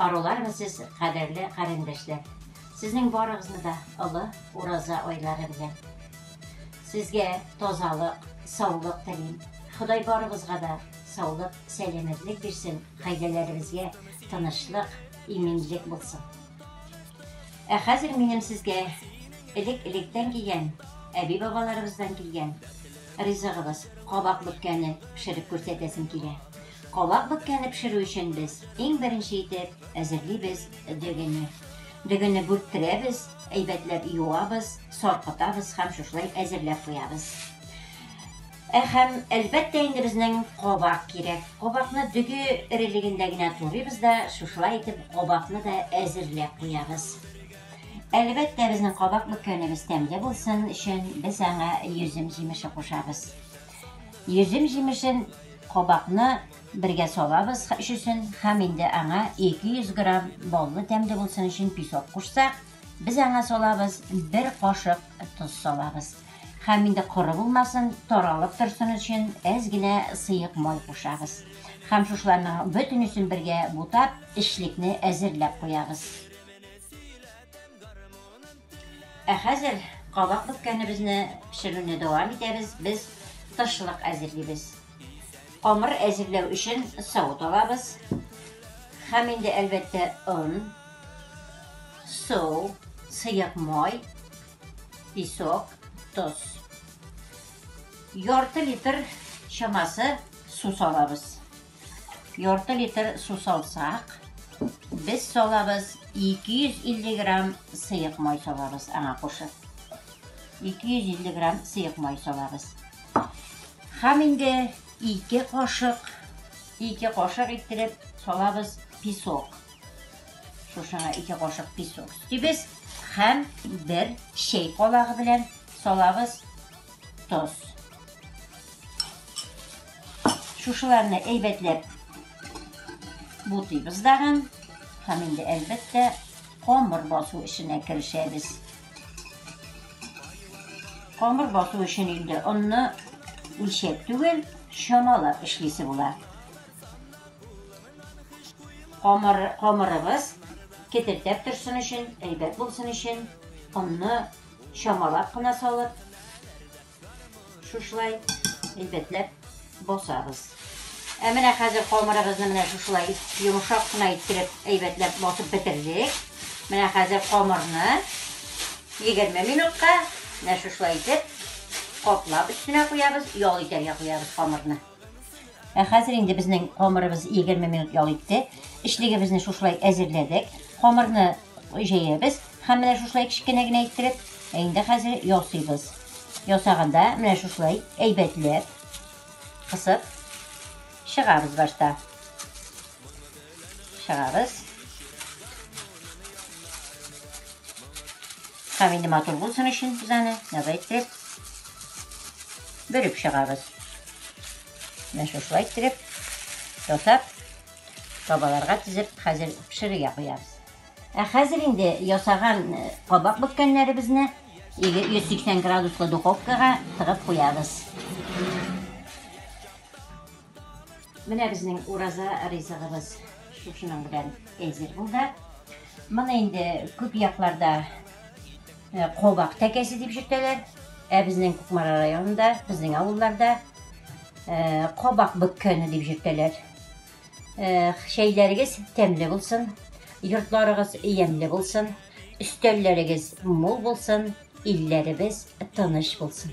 Арулармы сез, кадерле карендәшләр! Сезнең барыгызны да олы Ураза айлары белән. Сезгә тазалык, саулык телим. Ходай барыбызга да саулык, сәламәтлек бирсен, гаиләләребезгә тынычлык, иминлек булсын. Ә хәзер минем сезгә элек-электән кигән, әби-бабаларыбыздан килгән ризыгыбыз кабак бөккәне пешереп күрсәтәсем килә. Кабак бөккәне пешерү өчен без иң беренче итеп әзерлибез дөгене. Дөгене бүрттерәбез, әйбәтләп юабыз, саркытабыз һәм шушылай әзерләп куябыз. Ә һәм, әлбәттә инде безнең кабак кирәк. Кабакны дөге эрелегендә генә турыйбыз да, шушылай итеп кабакны да әзерләп куябыз. Әлбәттә, безнең кабак бөккәнебез тәмле булсын өчен, без аңа йөзем җимеше кушабыз. Йөзем җимешен, кабакны бергә салабыз өчесен һәм инде аңа 200 грамм баллы тәмле булсын өчен песок кушсак, Без аңа салабыз бер кашык тоз салабыз. Хәм инде коры булмасын, таралып торсын өчен әз генә сыек май кушабыз. Хәм шушыларның бөтенесен бергә бутап, эчлекне әзерләп куябыз. Ә хәзер кабак бөккәнебезне пешерүне дәвам итәбез, без тышлык әзерлибез. Камыр әзерләү өчен савыт алабыз. Хәм инде әлбәттә он. Су, сыек май, песок, тоз. Ярты литр чамасы су салабыз. Ярты литр су салсак, без салабыз 250 грамм сыек май салабыз аңа кушып. 250 грамм сыек май салабыз. Хәм инде 2 кашык, 2 кашык иттереп салабыз песок. Шушыңа ике кашык песок сибез һәм бер чәй калагы белән салабыз тоз. Шушыларны әйбәтләп бутыйбыз дагын һәм инде әлбәттә камыр басу эшенә керешәбез. Камыр басу өчен инде онны үлчәп түгел, чамалап эшлисе була. Камыр, камырыбыз кетердәп торсын өчен, әйбәт булсын өчен, онны чамалап кына салып, шушылай әйбәтләп басабыз. Ә менә хәзер камырыбызны менә шушылай йомшак кына иттереп әйбәтләп басып бетердек. Менә хәзер камырны 20 минутка менә шушылай итеп каплап өстенә куябыз, ял итәргә куябыз камырны. Ә хәзер инде безнең камырыбыз 20 минут ял итте. Эчлегебезне шушылай әзерләдек. Камырны җәябез һәм менә шушылай кечкенә генә иттереп, ә инде хәзер ясыйбыз. Ясаганда менә шушылай әйбәтләп кысып чыгабыз башта. Чыгабыз. Һәм инде матур булсын өчен без аны давай итеп бөреп чыгабыз. Менә шушылай иттереп ясап табаларга тезеп хәзер пешерергә куябыз. Ә хәзер инде ясаган э, кабак бөткәннәребезне 180 градуслы духовкага тыгып куябыз. Менә безнең ураза ризыгыбыз шушының белән әзер булды. Моны инде күп якларда кабак тәкәсе дип йөртәләр. Ә безнең Кукмара районында, безнең авылларда кабак бөккәне дип йөртәләр. Чәйләрегез тәмле булсын, йортларыгыз ямьле булсын, өстәлләрегез мул булсын, илләребез тыныч булсын.